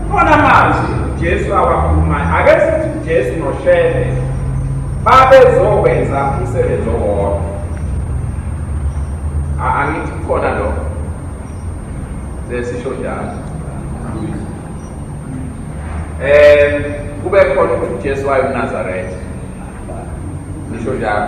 Kukhona amazwi uJesu awakhulumayo. Ake sithi uJesu noShembe babezokwenza umsebenzi owodwa. Angithi kukhona lokho. Sesisho njalo. Eh kube khona ukuthi uJesu wayenazaretha. Nisho njalo.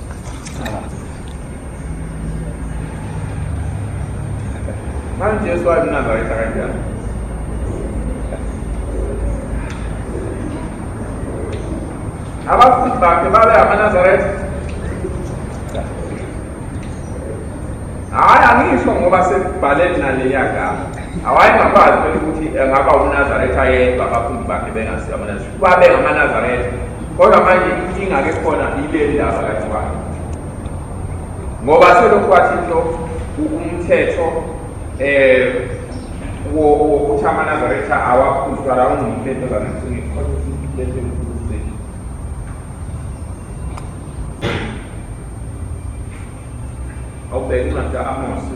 Manje Yesu wayenazareta kanjani? Abafundi bakhe babe amaNazaretha. Hhayi angisho ngoba sekubhale naleya gama. Awayengakwazi phela ukuthi engaba uNazaretha yedwa abafundi bakhe bengasiyo amaNazaretha. Babe ngamaNazaretha. Kodwa manje inkinga ke khona ile ndaba kaThwala. Ngoba selokhu kwathi into umthetho eh wokuthi amaNazaretha awaphuzwa la ungumthetho zana awubheke incwadi ka-amosi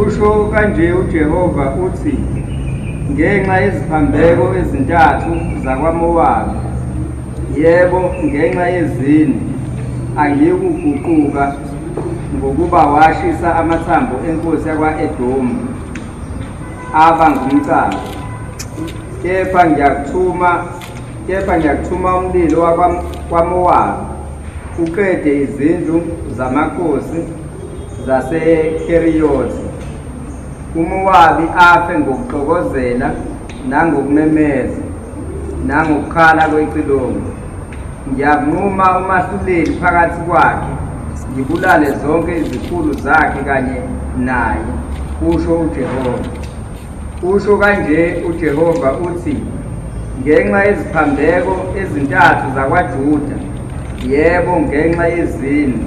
Usho kanje uJehova uthi, Ngenxa yeziphambeko ezintathu zakwaMowabi, yebo, ngenxa yezini, angiyikuguquka ngokuba washisa amathambo enkosi yakwa-Edomu aba ngumcaba, kepha ngiyakuthuma kepha ngiyakuthuma umlilo wakwamowabi uqede izindlu zamakhosi zasekeriyoti umowabi afe ngokuxokozela nangokumemeza nangokukhala kwecilongo ngiyakunquma umahluleli phakathi kwakhe ngibulale zonke izikhulu zakhe kanye naye kusho ujehova Usho kanje uJehova uthi, Ngenxa yeziphambeko ezintathu zakwaJuda, yebo, ngenxa yezini,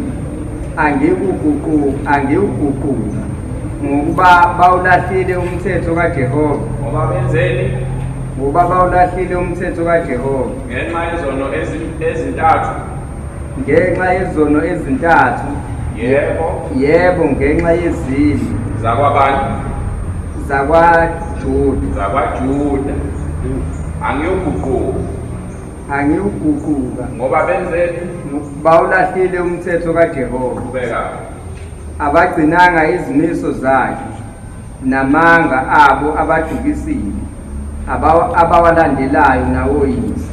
angikuguqu- angikuguquka, ngokuba bawulahlile umthetho kaJehova, Ngoba benzeni? ngoba bawulahlile umthetho kaJehova. Ngenxa yezono ezi- ezintathu ngenxa yezono ezintathu yebo yebo ngenxa yezini zakwabani zakwajuda zakwajuda angiyoguquka angiwuguquka ngoba benzeni bawulahlile umthetho kajehova abagcinanga izimiso zakhe namanga abo abadukisile abawalandelayo nawoyise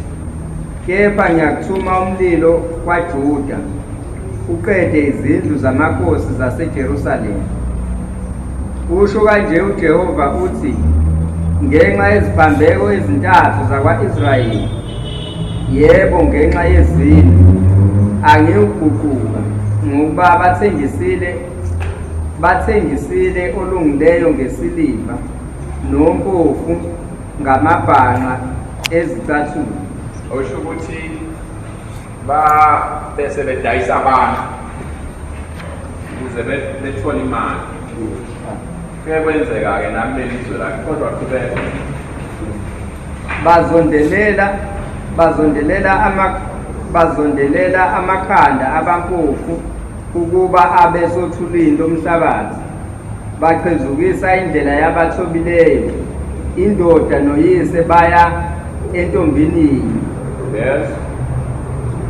kepha ngiyakuthuma umlilo kwaJuda uqede izindlu zamakhosi zaseJerusalema usho kanje uJehova uthi ngenxa yeziphambeko ezintathu zakwa-Israyeli yebo ngenxa yezindlu angiwuguquka ngokuba bathengisile Bathengisile olungileyo ngesiliva nompofu ngamabhanqa ezicathulo. Osho ukuthi ba bese bedayisa abantu ukuze bethole imali. Kuye kwenzeka-ke nami lelizwe lakhe kodwa qhubeka. Bazondelela bazondelela ama bazondelela amakhanda abampofu ukuba abe sothulini lomhlabathi baqhezukisa indlela yabathobileyo indoda noyise baya entombinini yes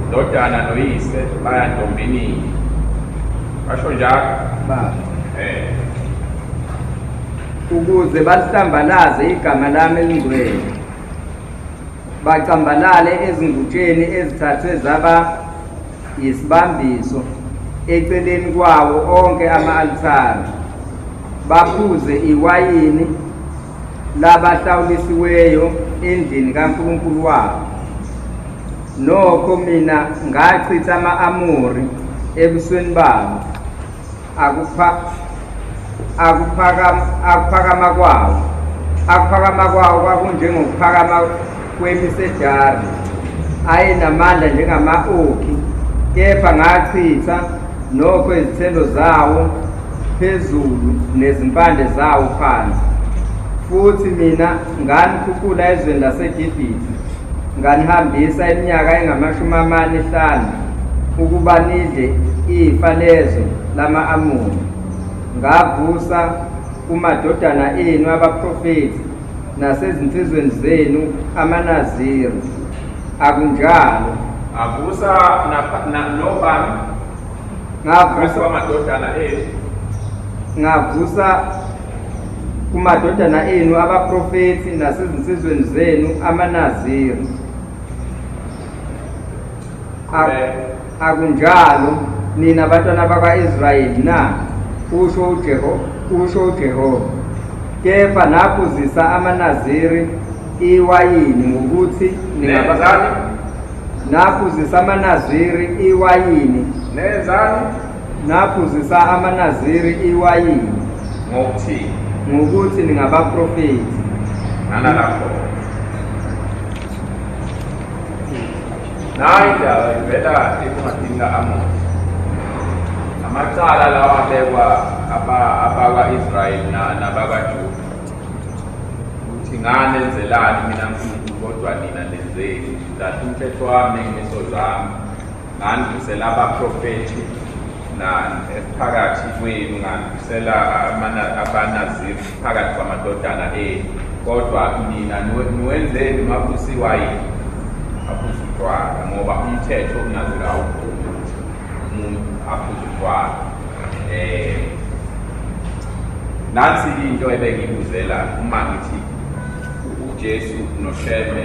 ndodana noyise baya ntombinini basho njalo ukuze balihlambalaze igama lami elingcwele bacambalale ezingutsheni ezithathwe zaba yisibambiso eceleni kwawo onke ama-alithare baphuze iwayini labahlawulisiweyo endlini kaNkulunkulu wabo nokho mina ngachitha ama-amori ebusweni babo akuphakama kwawo akuphakama kwawo kwakunjengokuphakama kwemisejari ayenamandla njengama-okhi kepha ngachitha nokho izithelo zawo phezulu nezimpande zawo phansi futhi mina Nganithuthula ezweni laseGibhithe, nganihambisa iminyaka engamashumi amane ehlanu ukuba nidle ifa lezwe lama-Amoni. Ngavusa kumadodana enu abaprofethi nasezinsizweni zenu amaNaziri. Akunjalo. Ngavusa nobani? Ngavusa amadodana enu. Ngavusa kumadodana enu abaprofethi nasezinsizweni zenu amanaziri akunjalo nina bantwana bakwa-israyeli na usho ujehova usho ujehova kepha naphuzisa amanaziri iwayini ngokuthi ningabazali naphuzisa amanaziri iwayini nenzani Ngaphuzisa amaNaziri iwayini. Ngokuthini? Ngokuthi ningabaprofethi. Nana lapho. Nayi indaba ivela encwadini ka-Amosi. Amacala lawa abekwa abakwa-Israyeli nabakwaJuda ukuthi ngani enzelani mina Nkulunkulu kodwa nina nenzeni, ngidlahla umthetho wami ney'miso zami Ngandisela abaprofethi na phakathi kwenu ngandisela abanazivu phakathi kwamadodana enu kodwa nina niwenzeni makusiwa yini aphuza utshwala ngoba umthetho unazela awuvumi ukuthi umuntu aphuza utshwala um eh, nansi into ebengibuzela uma ngithi ujesu noshembe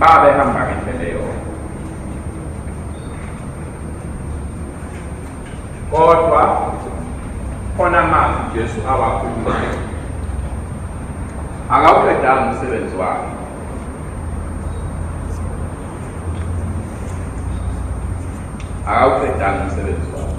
babehamba ngendlela eyodwa kodwa khona amazwi ujesu awakhulumayo akawuqedanga umsebenzi wakhe akawuqedanga umsebenzi wakhe